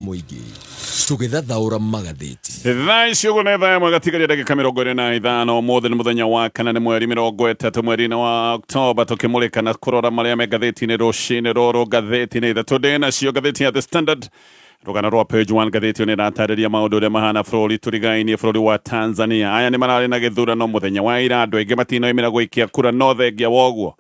mũingĩ tũgĩthathaũra magathĩti thaa icio guo nä thaa ĩmwe gatigaria ndagĩka mä rongo ä rä na ithano må thä nä må thenya wa kana nä mweri mä rongo ätatå mweri-inä wa oktoba tå kä må rä ka na kå rora marä a me ngathäti-inä rå cinä rå rå ngathäti-inä ithatå ndä nacio ngathäti ya the standard rũgano rwa page one ngathĩti nĩ ĩratarĩria maũndũ ũrĩa mahana bũrũri tũrigainie bũrũri wa tanzania aya nĩ mararĩ na gĩthurano mũthenya wa ira andũ aingĩ matinoimĩra gũikia kura no thengia woguo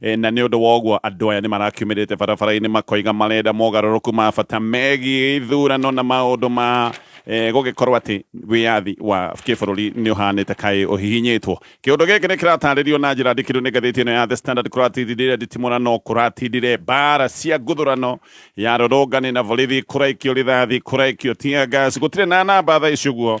E, na nĩ ũndũ wa ũguo andũ aya nĩ marakiumĩrĩte barabara-inĩ makoiga marenda mogarũrũku ma bata megiĩ ithurano na maũndũ ma e, gũgĩkorwo atĩ wĩyathi wa kĩbũrũri nĩ ũhanĩte kaĩ ũhihinyĩtwo kĩũndũ gĩkĩ nĩ kĩratarĩrio na njĩra ndikĩru nĩ ngathĩti ĩno ya The Standard kũratindire nditimũra no kũratindire mbara cia nguthurano ya rũrũngani na borithi kũraikio rithathi kũraikio tear gas gũtirĩ na namba thaa ici ũguo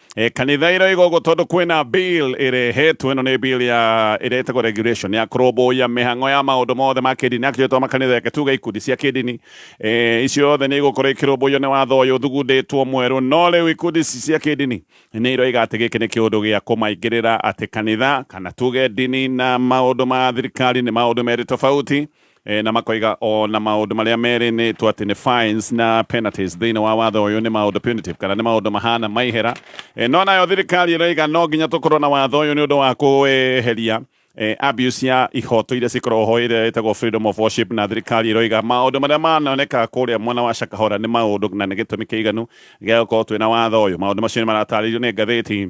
E, kanitha ĩro ĩgogo tondũ kwĩna bill ĩrehetwo ĩno nĩ bill ya ĩretagwo regulation ya kũrũmbũiya mĩhang'o ya maũndũ mothe ma kĩndini actually to makanitha yake tuge ikundi cia kĩndini e, icio yothe nĩ igũkorwo ikĩrũmbũiyo nĩ watho ũyũ thugundĩtwo mwerũ no rĩu ikundi ici cia kĩndini nĩ iroiga atĩ gĩkĩ nĩ kĩũndũ gĩa kũmaingĩrĩra atĩ kanitha kana tuge ndini na maũndũ ma thirikari nĩ maũndũ merĩ tofauti E, na makoiga o na maundu maria meri ni tu ati ni fines na penalties thiini wa watho uyu ni maundu punitive kana ni maundu mahana maihera e, no nayo thirikari iroiga no nginya tukorwo na watho uyu ni undu wa kuweheria e, abuse ya ihoto iria cikoragwo ho iria itagwo freedom of worship na thirikari iroiga maundu maria manoneka kuria mwena wa Shakahora ni maundu na ni gitumi kiiganu gia gukorwo twina watho uyu maundu macio ni maratarĩirio ni ngathĩti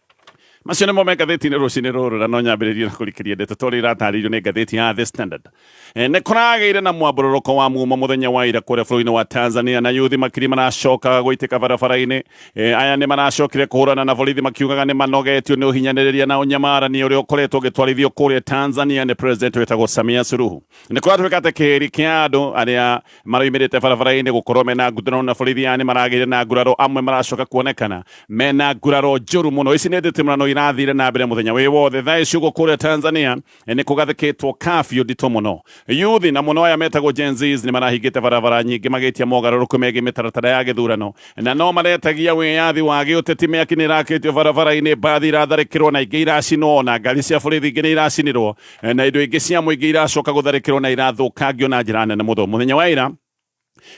macio nĩmo me ngathĩti-inĩ rũcinĩ rũrũ na no nyambĩrĩrie na kũrikĩria ndeto tũrĩa iratarĩirio nĩ ngathĩti ya The Standard Eh, nĩ kũragĩire na mwambũrũrũko wa mumo mũthenya wa ira kũrĩa bũrũri-inĩ wa Tanzania na yuthi makiri maracokaga gũitĩka barabara-inĩ Eh, aya nĩ maracokire kũhũrana na borithi makiugaga nĩ manogetio nĩ ũhinyanĩrĩria na ũnyamarani ũrĩa ũkoretwo ũgĩtwarithio kũrĩa Tanzania nĩ president wĩtagwo Samia Suluhu nĩ kũratuĩka atĩ kĩhĩri kĩa andũ arĩa maraimirite barabara-inĩ gũkorwo mena nguraro na borithi yani maragĩire na nguraro amwe maracoka kuonekana mena nguraro njũru mũno ici nĩ nditimũrano irathire na mbere mũthenya wĩ wothe thaa ici ũguo kũrĩa tanzania nĩ kũgathĩkĩtwo kabiũ nditũ mũno yuthi na mũno aya metagwo Gen Zs nĩ marahingĩte barabara nyingĩ magĩtia mogarũrũku megiĩ mĩtaratara ya gĩthurano na no maretagia wĩyathi wa gĩũteti mĩaki nĩ irakĩtio barabara-inĩ mbathi iratharĩkĩrwo na ingĩ iracinwo na ngari cia borithi ingĩ nĩ iracinirwo eh, na indo ingĩ cia mũingĩ iracoka gũtharĩkĩrwo na irathũkangio na njĩra nene mũno mũthenya wa ira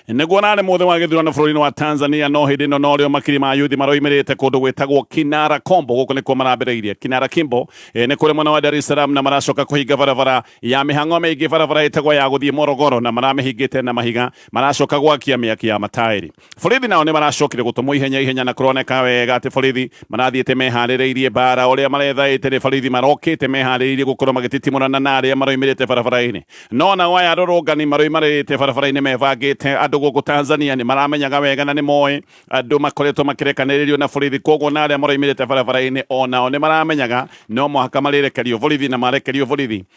nĩguo nane mothe wa gĩthurano bũrũri-inĩ wa tanzania no hĩndĩ ĩno norĩo makiri ma yuthi maroimĩrĩte kũndũ gwĩtagwo kinara kombo gũkũ nĩkuo marambĩrĩirie kinara kimbo e, nĩ kũrĩ mwena wa dar es salaam na maracoka kũhinga barabara ya mĩhang'o mĩingĩ barabara ĩtagwo ya gũthiĩ morogoro na maramĩhingĩte na mahiga maracoka gwakia mĩaki ya mataĩri borithi nao nĩ maracokire gũtũmwo ihenya ihenya na kũroneka wega atĩ borithi marathiĩte meharĩrĩirie mbaara ũrĩa marethaĩte nĩ borithi marokĩte meharĩrĩirie gũkorwo magĩtitimũrana na arĩa maroimĩrĩte barabara-inĩ no nao aya arũrũngani maroimarĩte barabara-inĩ mebangĩte andũ gũkũ Tanzania nĩ maramenyaga wega na nĩ moĩ andũ makoretwo makĩrekanĩrĩrio na borithi koguo na arĩa maroimĩrĩte barabara-inĩ o nao nĩ maramenyaga no mũhaka marĩrekerio borithi na marekerio borithi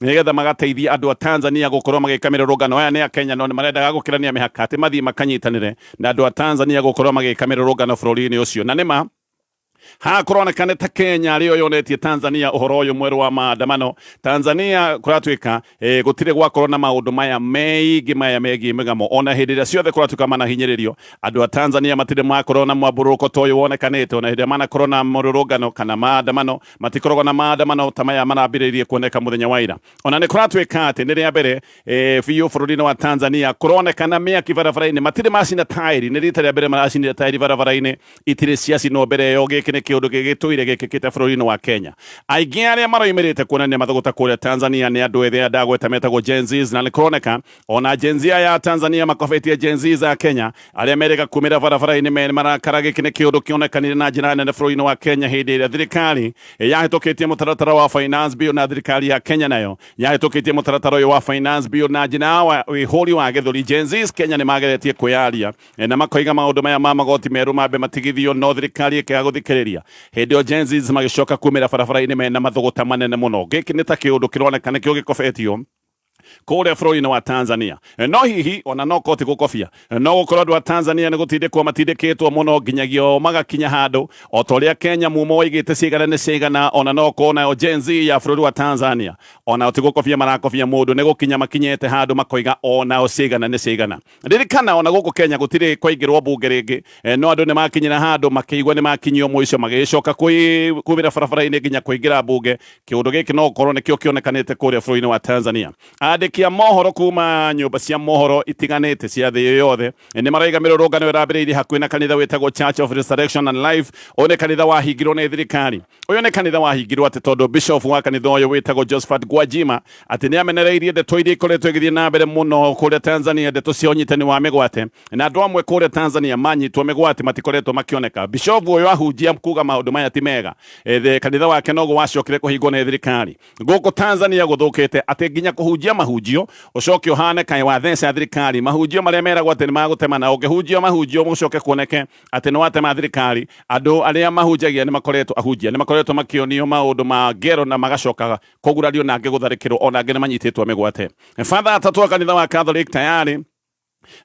nĩgetha magateithia andũ a Tanzania gũkorwo magĩka mĩrũrũngano. Aya nĩ Akenya no nĩmarendaga gũkĩrania mĩhaka atĩ mathiĩ makanyitanĩre na andũ a Tanzania gũkorwo magĩka mĩrũrũngano bũrũri-inĩ ũcio, na nĩma haha kũroneka nĩ ta Kenya arĩyo yonetie Tanzania ũhoro ũyũ mwerũ wa maandamano. Tanzania kũratuĩka eh, gũtirĩ gwakorwo na maũndũ maya meingĩ maya megiĩ mĩgamo ona hĩndĩ ĩrĩa ciothe kũratuĩka manahinyĩrĩrio andũ a Tanzania matirĩ makorwo na mwambũrũrũko ta ũyũ wonekanĩte ona hĩndĩ ĩrĩa manakorwo na mũrũrũngano kana maandamano Matikoragwo na maandamano ta maya marambĩrĩirie kuoneka mũthenya wa ira. Ona nĩ kũratuĩka atĩ nĩ rĩa mbere e, biũ bũrũri-inĩ wa Tanzania kũronekana mĩaki barabara-inĩ. Matirĩ macina taĩri, nĩ rita rĩa mbere maracinire taĩri barabara-inĩ, itirĩ ciacinwo mbere ĩyo. Gĩkĩ nĩ kĩũndũ gĩgĩtũire gĩkĩkĩte bũrũri-inĩ wa Kenya. Aingĩ arĩa maroimĩrĩte kuonania mathũgũta kũrĩa Tanzania nĩ andũ ethĩ aya ndagweta metagwo Gen Zs, na nĩ kũroneka ona jenzia ya tanzania makobetie jenzi za kenya arĩa merĩga kumĩra barabara-inĩ me marakara gĩkĩ nĩ kĩũndũ kĩonekanire na njĩra nene bũrũri-inĩ wa kenya hĩndĩ ĩrĩa thirikari yahĩtũkĩtie mũtaratara wa finance bill na thirikari ya kenya nayo yahĩtũkĩtie mũtaratara ũyũ wa finance bill na njĩra wa wĩhũri wa gĩthũri jenzis kenya nĩ mageretie kwĩyaria eh, na makoiga maũndũ maya ma magoti merũ mambe matigithio no thirikari ĩkĩaga gũthikĩrĩria hĩndĩ ĩyo jenzis magĩcoka kumĩra barabara-inĩ mena mathũgũta manene mũno gĩkĩ nĩ ta kĩũndũ kĩroneka nĩkĩo gĩkobetio kũrĩa bũrũri-inĩ wa Tanzania. No hihi ona no koti gũkobia, no gũkorwo andũ a Tanzania nĩ gũtindĩkwo matindĩkĩtwo mũno nginyagia o magakinya handũ o ta ũrĩa Kenya mumo waigĩte cigana nĩ cigana, ona no korwo nayo Gen Z ya bũrũri wa Tanzania onao ti gũkobia marakobia mũndũ, nĩ gũkinya makinyĩte handũ makoiga onao cigana nĩ cigana. ririkana ona guku kenya gutiri kwaingirwo mbunge ringi e, no andu ni makinyira handu makiigua ni makinyio muico magicoka kuwira barabara-ini nginya kuingira mbunge kiundu giki no gukorwo nikio kionekanite kuria bururi-ini wa tanzania andiki a mohoro kuma nyumba cia mohoro itiganite cia thi iyo yothe e, ni maraiga mirurungano irambiriirie hakuhi na kanitha witagwo church of resurrection and life uyu ni kanitha wahingirwo ni thirikari uyu ni kanitha wahingirwo ati tondu bishop wa kanitha uyu witagwo josephat gwajima atĩ nĩ amenereirie ndeto iria ikoretwo igĩthiĩ na mbere mũno kũrĩa Tanzania ndeto cia ũnyitani wa mĩgwate na andũ amwe kũrĩa Tanzania manyitwo mĩgwate matikoretwo makĩoneka bishovu ũyũ ahunjia kuga maũndũ maya ti mega ethe kanitha wake noguo wacokire kũhingwo nĩ thirikari gũkũ Tanzania gũthũkĩte atĩ nginya kũhunjia mahunjio ũcoke ũhane kaĩ watheca thirikari mahunjio marĩa meragwo atĩ nĩ magũtema na ũngĩhunjia mahunjio ũcoke kuoneke atĩ nĩ watema thirikari andũ arĩa mahunjagia nĩ makoretwo ahunjia nĩ makoretwo makĩonio maũndũ ma ngero na magacoka kũgurario na angĩ gũtharĩkĩrwo ona angĩ nĩ manyitĩtwo mĩgwate batha atatũ a kanitha wa catholic tayarĩ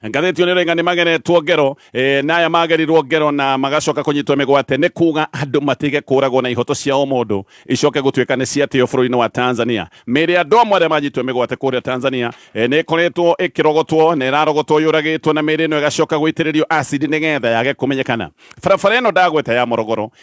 ngathĩti nä renga nä mageretwo ngero e, na aya magerirwo ngero na magacoka kũnyitwo mĩgwate nĩ kuga andũ matige kũragwo na ihoto cia o mũndũ icoke gũtuĩka nĩ ciatĩo bũrũri-inĩ wa tanzania mĩrĩ ya andũ amwe arĩa manyitwo mĩgwate kũrĩa tanzania e, nĩ ĩkoretwo ĩkĩrogotwo na ĩrarogotwo yũragĩtwo na mĩrĩ ĩno ĩgacoka gũitĩrĩrio acidi nĩgetha yage kũmenyekana barabara ĩno ndagweta ya morogoro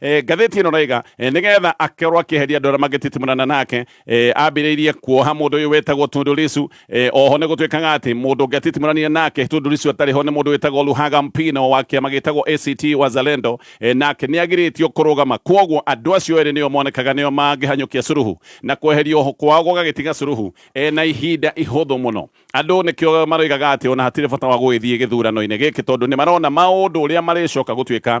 Eh, ngathĩti ĩno raiga eh, nĩgetha akorwo akĩeheria andũ arĩa mangĩtitimũrana nake eh, ambĩrĩirie kuoha mũndũ ũyũ wĩtagwo Tundu Lissu eh, oho nĩ gũtuĩkaga atĩ mũndũ ũngĩ atitimũranire nake Tundu Lissu atarĩ ho nĩ mũndũ wĩtagwo Luhaga Mpino wa kĩama gĩtagwo ACT Wazalendo eh, nake nĩ agirĩtio kũrũgama kwoguo andũ acio erĩ nĩo monekaga nĩo mangĩhanyũkia Suluhu na kweheria oho kwao gũgagĩtiga Suluhu eh, na ihinda ihũthũ mũno andũ nĩkĩo maroigaga atĩ ona hatirĩ bata wa gũgĩthiĩ gĩthurano-inĩ gĩkĩ tondũ nĩ marona maũndũ ũrĩa marĩcoka gũtuĩka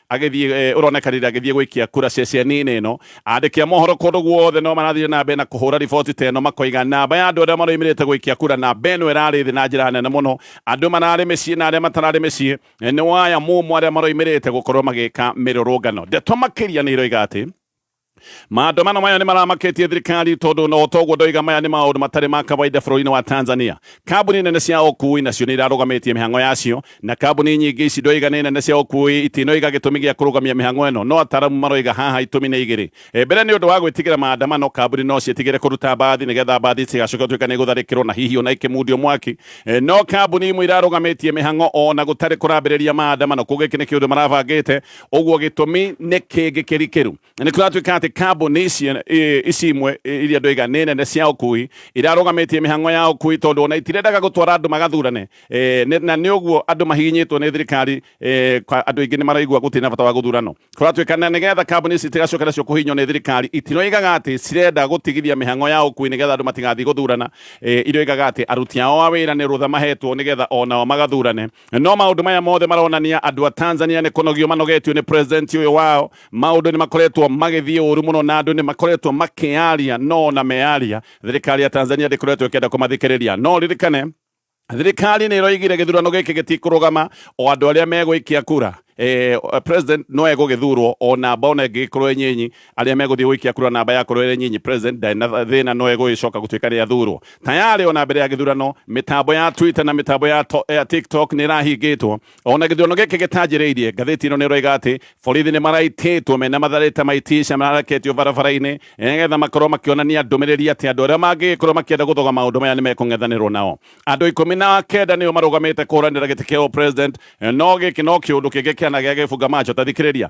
agĩthiĩ eh, ũroneka rĩrĩa agĩthiĩ gwĩkia kura ceceni-inĩ ĩno andĩki a mohoro kũndũ guothe no marathire na mbere na kũhũra riboti ta ĩno makoiga namba ya andũ arĩa maroimĩrĩte gwĩkia kura namba ĩno ĩrarĩ thĩ na njĩra nene mũno andũ mararĩ mĩciĩ na arĩa matararĩ mĩciĩ eh, nĩ waya mũmũ arĩa maroimĩrĩte gũkorwo magĩka mĩrũrũngano ndeto makĩria nĩ iroiga atĩ Maandamano maya nĩ maramaketie thirikari tondũ no toguo ndoiga maya nĩ maũndũ matarĩ ma kawaida bũrũri-inĩ wa Tanzania. Kambuni nene cia ũkui nacio nĩ irarũgamĩtie mĩhang'o yacio, na kambuni nyingĩ ici ndoiga nĩ nene cia ũkui itinoiga gĩtũmi gĩa kũrũgamia mĩhang'o ĩno, no ataaramu maroiga haha itũmi nĩ igĩrĩ. Mbere nĩ ũndũ wa gwĩtigĩra maandamano, kambuni no ciĩtigĩre kũruta mbathi nĩgetha mbathi itigacoke gũtuĩka nĩ igũtharĩkĩrwo na hihi ona ikĩmundio mwaki. No kambuni imwe irarũgamĩtie mĩhang'o ona gũtarĩ kũrambĩrĩria maandamano, kuuga gĩkĩ nĩ kĩũndũ marabangĩte. ũguo gĩtũmi nĩ kĩngĩ kĩrikĩru nĩ kũratuĩka atĩ kambuni ici i- ici imwe i- iria andũ iga nĩ nene cia ũkui irarũgamĩtie mĩhango ya ũkui tondũ ona itirendaga gũtwara andũ magathurane Eh, nĩ- na nĩ ũguo andũ mahihinyĩtwo nĩ thirikari eh, kwa- andũ aingĩ nĩ maraigua gũtirĩ na bata wa gũthurano kũratuĩka na nĩgetha kambuni ici itigacoke nacio kũhihinywo nĩ thirikari itiroigaga atĩ cirenda gũtigithia mĩhango ya ũkui nĩgetha andũ matigathiĩ gũthurana Eh, iroigaga atĩ aruti ao a wĩra nĩ rũtha mahetwo nĩgetha onao magathurane No maũndũ maya mothe maronania andũ a Tanzania nĩ kũnogio manogetio nĩ president ũyũ wao. Maũndũ nĩ makoretwo magĩthiĩ ũru mũno na andũ nĩ makoretwo makĩaria no ona mearia thirikari ya Tanzania ndĩkoretwo ĩkĩenda kũmathikĩrĩria. No ũririkane thirikari nĩ ĩroigire gĩthurano gĩkĩ gĩtikũrũgama o andũ arĩa megũikia kura eh, president no egũgĩthurwo o namba ona ĩngĩgĩkorwo ĩnyinyi arĩa megũthiĩ gũikia kura namba ya kũrũĩra nyinyi president ndarĩ na thĩna no egũgĩcoka gũtuĩka rĩa thurwo tayarĩ ona mbere ya gĩthurano mĩtambo ya twitter na mĩtambo ya, to, ya tiktok nĩ ĩrahingĩtwo ona gĩthurano gĩkĩ gĩtanjĩrĩirie ngathĩti ĩno nĩ ĩroiga atĩ borithi nĩ maraitĩtwo mena matharĩta ma itisha maraketio barabara-inĩ nĩgetha makorwo makĩonania ndũmĩrĩri atĩ andũ arĩa mangĩgĩkorwo makĩenda gũthoga maũndũ maya nĩ mekũng'ethanĩrwo nao andũ ikũmi na kenda nĩo marũgamĩte kũhũranĩra gĩtĩ kĩa president no gĩkĩ no kĩũndũ kĩngĩ kĩana gĩa gĩbunga macho tathikĩrĩria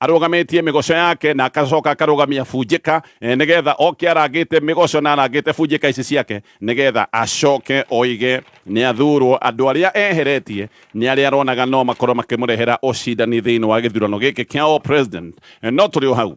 arũgamĩtie mĩgoco yake na akacoka akarũgamia bunjĩka eh, nĩgetha oke arangĩte mĩgoco na arangĩte bunjĩka ici ciake nĩgetha acoke oige nĩ athurwo andũ arĩa eheretie nĩ arĩa aronaga no makorwo makĩmũrehera ũcindani thĩinĩ wa gĩthurano gĩkĩ kĩa all president Eh, no tũrĩ o hau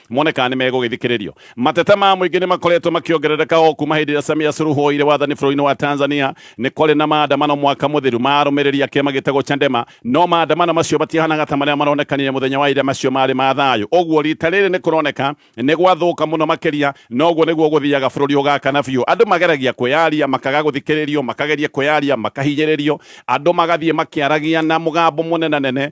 mone kana nĩ megũgĩthikĩrĩrio mateta ma mũingĩ nĩ makoretwo makĩongerereka o kuma hĩndĩ ĩrĩa samia suruhu oire wathani bũrũri-inĩ wa tanzania nĩ kwarĩ na maandamano mwaka mũthiru ma arũmĩrĩri a kĩama gĩtagwo chandema no maandamano macio matihanaga ta marĩa maronekanire mũthenya wa ira macio marĩ ma thayũ ũguo rita rĩrĩ nĩ kũroneka nĩ gwathũka mũno makĩria na ũguo nĩguo gũthiaga bũrũri ũgakana biũ andũ mageragia kwĩyaria makaga gũthikĩrĩrio makageria kwĩyaria makahinyĩrĩrio andũ magathiĩ makĩaragia na mũgambo mũnenanene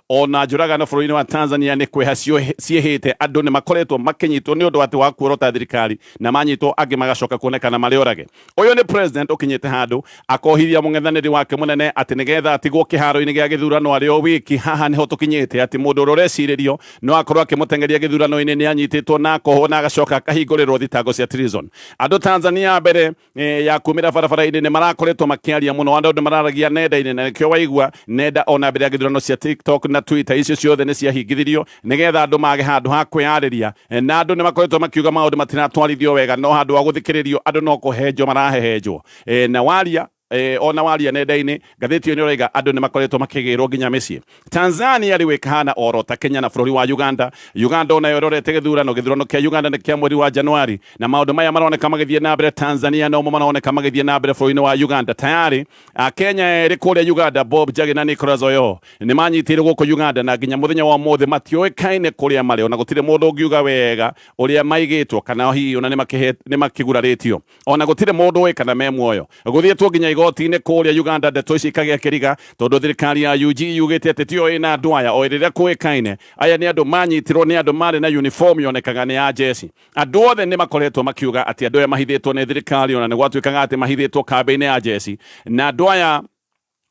ona njũragano bũrũri-inĩ wa Tanzania nĩ kweha ciĩhĩte andũ nĩ makoretwo makĩnyitwo nĩ ũndũ atĩ wa kuorota thirikari na manyitwo angĩ magacoka kuonekana marĩ orage. Ũyũ nĩ president ũkinyĩte handũ akohithia mũng'ethanĩri wake mũnene atĩ nĩgetha atigwo kĩharo-inĩ gĩa gĩthurano arĩ o wiki. Haha nĩho tũkinyĩte atĩ mũndũ ũrĩa ũrecirĩrio no akorwo akĩmũteng'eria gĩthurano-inĩ nĩ anyitĩtwo na akohwo na agacoka akahingũrĩrwo thitango cia treason. Andũ Tanzania mbere eh, ya kumira barabara-inĩ nĩ marakoretwo makĩaria mũno andũ nĩ mararagia nenda-inĩ na nĩkĩo waigua nenda ona mbere ya gĩthurano cia tiktok na twitter icio ciothe nĩ ciahingithirio nĩgetha andũ mage handũ ha kwĩyarĩria Eh, na andũ nĩ makoretwo makiuga maũndũ matiratwarithio wega no handũ wa gũthikĩrĩrio andũ no kũhenjwo marahehenjwo Eh, na waria eh, ona waria nenda-inĩ Ngathĩti ĩyo nĩroiga andũ nĩmakoretwo makĩgĩrwo nginya mĩciĩ. Tanzania rĩu ĩkahana oro ta Kenya na bũrũri wa Uganda. Uganda onayo ĩrorete gĩthurano. Gĩthurano kĩa Uganda nĩ kĩa mweri wa Januari. Na maũndũ maya maroneka magĩthiĩ na mbere Tanzania nomo maroneka magĩthiĩ na mbere bũrũri-inĩ wa Uganda. Tayarĩ Akenya erĩ kũrĩa Uganda, Bob Njagi na Nicholas Oyoo, nĩmanyitĩirwo gũkũ Uganda na nginya mũthenya wa ũmũthĩ matiũĩkaine kũrĩa marĩ. Ona gũtirĩ mũndũ ũngiuga wega ũrĩa maigĩtwo kana hihi ona nĩmakĩgurarĩtio. ona gũtirĩ mũndũ ũĩ kana me muoyo gũthiĩtwo nginya igoti-inĩ kũrĩa Uganda ndeto ici ikagĩa kĩriga tondũ thirikari ya UG yugĩte atĩ tiyo ĩna andũ aya o rĩrĩa kũĩkaine aya nĩ andũ manyitirwo nĩ andũ marĩ na uniform yonekaga nĩ ya jeshi andũ othe nĩ makoretwo makiuga atĩ andũ aya mahithĩtwo nĩ thirikari ona nĩ gwatuĩkaga atĩ mahithĩtwo kambĩ-inĩ ya jeshi na andũ aya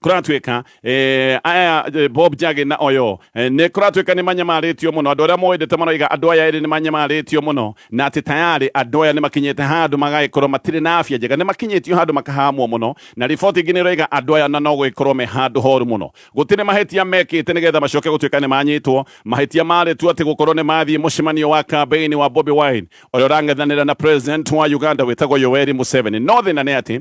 kuratuika eh, aya eh, bob jage na oyo eh, ni kuratuika ni manyamarĩtio mũno andũ arĩa moendete maroiga andũ aya erĩ nĩ manyamarĩtio mũno na atĩ tayarĩ andũ aya nĩ makinyĩte handũ magagĩkorwo matirĩ na afya njega nĩ makinyĩtio handũ makahamwo mũno na riboti ingĩ nĩ ĩroiga andũ aya na no gũgĩkorwo me handũ horu mũno gũtirĩ mahĩtia mekĩte nĩgetha macoke gũtuĩka nĩ manyitwo mahĩtia marĩ tu atĩ gũkorwo nĩ mathiĩ mũcemanio wa kambĩini wa Bobi Wine ũrĩa ũrang'ethanĩra na president wa Uganda wĩtagwo Yoweri Museveni no thĩna nĩ atĩ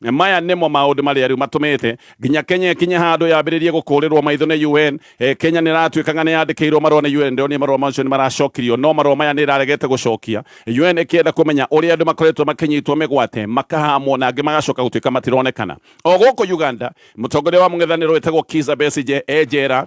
Maya nĩmo maũndũ marĩa rĩu matũmĩte nginya Kenya ĩkinye handũ yambĩrĩrie gũkũrĩrwo maitho nĩ UN. E, Kenya nĩ ĩratuĩka ng'ano yandĩkĩirwo marũa nĩ UN, ndĩronire marũa macio nĩ maracokirio, no marũa maya nĩ ĩraregete gũcokia. UN ĩkĩenda kũmenya ũrĩa andũ makoretwo makĩnyitwo mĩgwate, makahamwo na angĩ magacoka gũtuĩka matironekana. O gũkũ Uganda, mũtongoria wa mũng'ethanĩro wĩtagwo Kiza Besigye e njera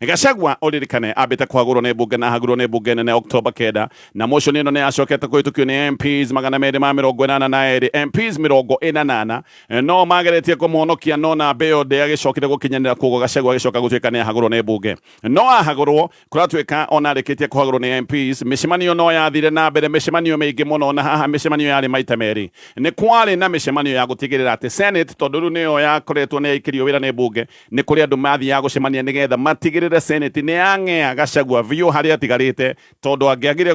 Gachagua ũririkane ambĩte kwagũrwo nĩ mbunge na ahagurwo nĩ mbunge nene Oktoba kenda na motion ĩno nĩ acokete kũhĩtũkio nĩ MPs magana merĩ ma mĩrongo ĩnana na erĩ MPs mĩrongo ĩnanana no mageretie kũmũhonokia no namba ĩyo ndĩagĩcokire gũkinyanĩra koguo Gachagua agĩcoka gũtuĩka nĩ ahagũrwo nĩ mbunge no ahagũrwo kũratuĩka ona arĩkĩtie kũhagũrwo nĩ MPs mĩcemanio no yathire na mbere mĩcemanio mĩingĩ mũno na haha mĩcemanio yarĩ maita merĩ nĩ kwarĩ na mĩcemanio ya gũtigĩrĩra atĩ Senate tondũ rĩu nĩyo yakoretwo nĩ yaikĩrio wĩra nĩ mbunge Nĩ kũrĩ andũ mathiaga gũcemania nĩ getha matigĩrĩre Senate nĩ yang'ea Gachagua biũ harĩa atigarĩte, tondũ angĩagire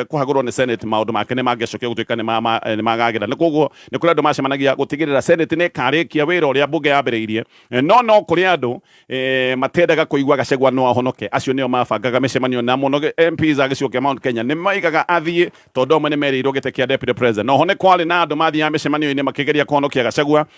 kũhagũrwo nĩ Senate maũndũ make nĩ mangĩacokire gũtuĩka nĩ magagĩra. Na kwoguo nĩ kũrĩ andũ macemanagia gũtigĩrĩra Senate nĩ ĩkarĩkia wĩra ũrĩa mbunge yambĩrĩirie. No no kũrĩ andũ matendaga kũigua Gachagua no ahonoke, acio nĩo mabangaga mĩcemanio na mũno MPs a gĩcigo kĩa Mount Kenya nĩ maigaga athiĩ tondũ amwe nĩ merĩirwo gĩtĩ kĩa Deputy President. Oho nĩ kwarĩ na andũ mathiaga mĩcemanio-inĩ makĩgeria kũhonokia Gachagua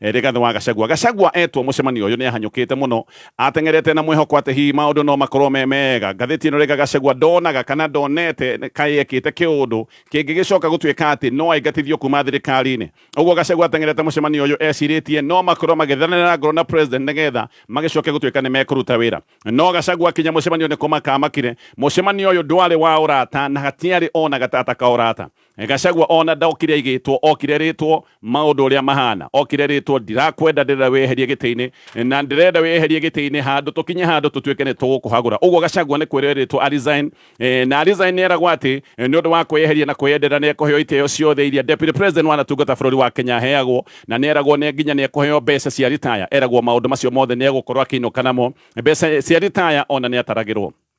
Rigathi wa Gachagua. Gachagua etwo mucemanio uyu ni ahanyukite muno. Ateng'erete na mwihoko ati hihi maundu no makorwo me mega. Ngatheti ino riga Gachagua ndonaga kana ndonete kai ekite kiundu kingigicoka gutuika ati no aingatithio kuma thirikari-ini. Uguo Gachagua ateng'erete mucemanio uyu eciritie no makorwo magithananira ngoro na President nigetha magicoke gutuika nimekuruta wira. No Gachagua akinya mucemanio ni kumaka amakire. Mucemanio uyu ndwari wa urata na hatiari ona gatata ka urata. gacagua ona ndokire aigĩtwo okire rĩtwo maũndũ ũrĩa mahana okire rĩtwo ndirakwenda ndĩrenda wĩyeherie gĩtĩ-inĩ na ndĩrenda wĩyeherie gĩtĩ-inĩ handũ tũkinye handũ tũtuĩke nĩ tũgũkũhagũra ũguo gacagua nĩ kwĩrwo erĩtwo arisign eh, na arisign nĩ eragwo atĩ eh, nĩ ũndũ wa kwĩyeheria na kwĩyendera nĩ ekũheo itĩo ciothe iria deputy president wanatungata bũrũri wa kenya aheagwo na nĩ eragwo nĩ nginya nĩ ekũheo mbeca cia ritaya eragwo maũndũ macio mothe nĩ egũkorwo akĩinũka namo mbeca cia ritaya ona nĩ ataragĩrwo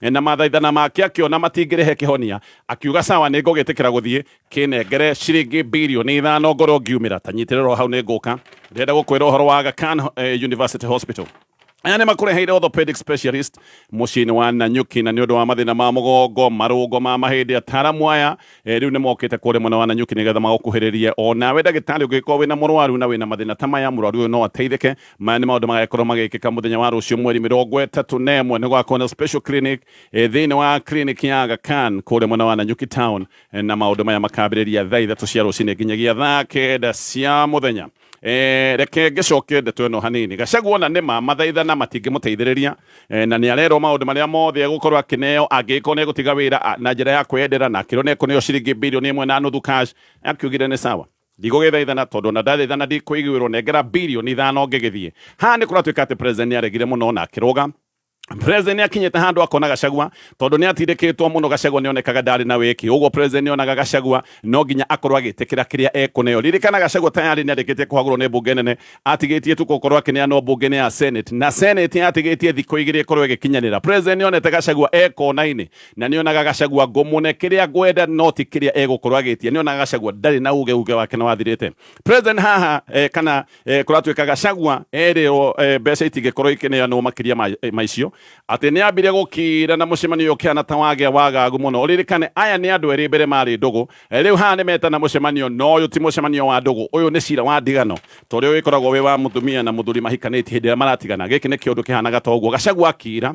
Na mathaithana make akĩona matingĩrehe kĩhonia, akiuga sawa nĩngũgĩtĩkĩra gũthiĩ, kĩnengere ciringi birioni ithano ngorwo ngiumĩra, ta nyitĩrĩra o hau nĩngũka, ndĩrenda gũkwĩra ũhoro wa Aga Khan University Hospital. Aya nĩ makũreheire orthopedic specialist mũciĩ-inĩ wa Nanyuki, na nĩ ũndũ wa mathĩna ma mũgongo, marũngo ma mahĩndĩ, ataaramu aya eh, rĩu nĩ mokĩte kũrĩa mwena wa Nanyuki nĩgetha magũkuhĩrĩrie. O nawe ndagĩtarĩ ũngĩgĩkorwo wĩna mũrwaru na wĩna mathĩna ta maya, mũrwaru ũyũ no ateithĩke, maya nĩ maũndũ magagĩkorwo magĩkĩka mũthenya wa rũciũ mweri mĩrongo ĩtatũ na ĩmwe nĩ gwakorwo na special clinic eh, thĩinĩ wa clinic ya Aga Khan kũrĩa mwena wa Nanyuki town Eh, na maũndũ maya makambĩrĩria thaa ithatũ cia rũcinĩ nginyagia thaa kenda cia mũthenya Eh, reke ngĩcoke ndeto ĩno hanini gacagua ona nĩma mathaithana matingĩmũteithĩrĩria eh, na nĩ arerwo maũndũ marĩa mothe egũkorwo akĩneo angĩgĩkorwo nĩ egũtiga wĩra a- na njĩra ya kwendera na akĩrwo nĩ ekũneo ciringi birioni ĩmwe na nuthu cash akiugire nĩ sawa Ndigũgĩthaithana tondũ ona ndathaithana ndikũiguĩrwo nengera birioni ithano ngĩgĩthiĩ. Haha nĩ kũratuĩka atĩ President nĩ aregire mũno na akĩrũga. President nĩ akinyĩte handũ akona Gachagua tondũ nĩ atindĩkĩtwo mũno Gachagua nĩ onekaga ndarĩ na wĩki. Ũguo President nĩ onaga Gachagua no nginya akorwo agĩtĩkĩra kĩrĩa ekũneo. Ririkana Gachagua tayarĩ nĩ arĩkĩtie kũhagũrwo nĩ mbunge nene, atigĩtie tu gũkorwo akĩneanwo mbunge-inĩ ya Senate na Senate atigĩtie thikũ igĩrĩ ĩkorwo ĩgĩkinyanĩra. President nĩ onete Gachagua e kona-inĩ Na nĩonaga Gachagua ngũmũne kĩrĩa ngwenda no ti kĩrĩa egũkorwo agĩtia. Nĩonaga Gachagua ndarĩ na uge, uge wake nĩwathirĩte. President haha eh, kana eh, kũratuĩka Gachagua erĩrwo eh, mbeca itingĩkorwo ikĩneanwo makĩria ma, eh, ma icio. Atĩ nĩambire gũkira na mũcemanio ũyũ ũkĩhana ta wagĩa wagagu mũno. Ũririkane aya nĩ andũ erĩ mbere marĩ ndũgũ. Eh, Rĩu haha nĩmetana mũcemanio no ũyũ ti mũcemanio wa ndũgũ. Ũyũ nĩ cira wa ndigano. Ta ũrĩa wĩkoragwo wĩ wa mũtumia na mũthuri mahikanĩtie hĩndĩ ĩrĩa maratigana. Gĩkĩ nĩkĩo ũndũ kĩhanaga ta ũguo. Gachagua akira.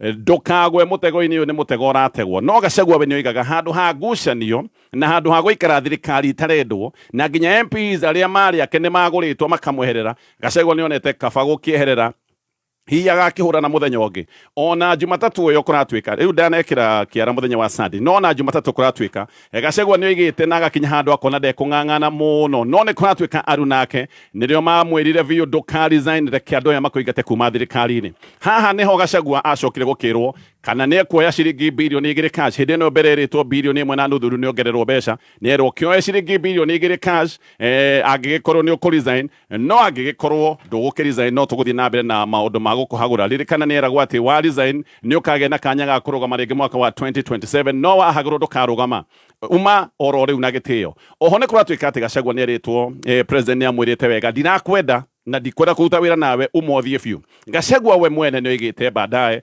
ndũkagwe mũtego-inĩ ũyũ nĩ mũtego ũrategwo no gacagua we nĩoigaga handũ ha ngucanio na handũ ha gũikara thirikari itarendwo na nginya MPs arĩa marĩ ake nĩ magũrĩtwo makamweherera gacagua nĩonete kaba gũkĩeherera hihi agakĩhũrana mũthenya ũngĩ ona jumatatũ ĩyo kũratuĩka rĩu ndanekĩra kĩara mũthenya wa sande no ona jumatatũ kũratuĩka Gacagua nĩ oigĩte na agakinya handũ akona ndekũng'ang'ana mũno no nĩ kũratuĩka aru nake nĩrĩo mamwĩrire biũ ndũka resign reke andũ aya makũingate kuma thirikari-inĩ. Haha nĩho Gacagua acokire gũkĩrwo kana nĩ ekuoya ciringi birioni igĩrĩ cash, hĩndĩ ĩno mbere erĩtwo birioni ĩmwe na nuthu rĩu nĩ ongererwo mbeca, nĩ erwo kĩoe ciringi birioni igĩrĩ cash angĩgĩkorwo nĩ ũkũ resign No angĩgĩkorwo ndũgũkĩresign no tũgũthiĩ na mbere na maũndũ ma gũkũhagũra. Ririkana nĩeragwo atĩ wa resign nĩũkagĩa na kanya ga kũrũgama rĩngĩ mwaka wa 2027 no wahagũrwo ndũkarũgama. Uma oro rĩu na gĩtĩo. Oho nĩkũratuĩka atĩ Gachagua nĩerĩtwo President nĩamwĩrĩte wega ndirakwenda na ndikwenda kũruta wĩra nawe uma ũthiĩ biũ. Gachagua we mwene nĩoigĩte baadaye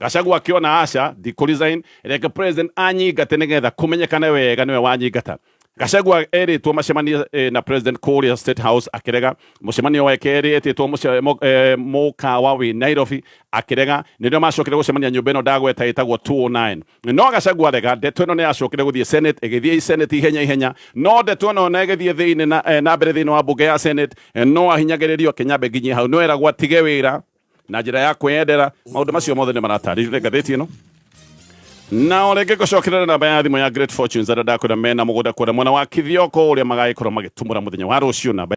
gacagua akĩona aca ndikũrizain reke president anyingate nĩgetha kũmenyekane wega nĩwe wanyingata gacagua erĩtwo macemanie eh, na president kũrĩa state house akĩrega mũcemanio wa kerĩ etĩtwo mũce- mo- eh, mũkawa wĩ nairobi akĩrega nĩrĩo macokire gũcemania nyũmba ĩno ndagweta ĩtagwo 209 no gacagua arega ndeto ĩno nĩ yacokire gũthiĩ senate ĩgĩthiĩ i senate ihenya ihenya no ndeto ĩno na ĩgĩthiĩ thĩinĩ na, eh, na mbere thĩinĩ wa mbunge ya senate eh, no ahinyagĩrĩrio kĩnyambe nginyie hau no eragwo atige wĩra na njĩra ya kwĩyendera maũndũ macio mothe nĩ maratarĩrio nĩ ngathĩti ĩno na o rĩngĩ ngũcokerera namba ya thimũ ya Great Fortunes arĩa ndakwĩra mena mũgũnda kũrĩa mwena wa Kithioko ũrĩa magagĩkorwo magĩtumũra mũthenya wa rũciũ namba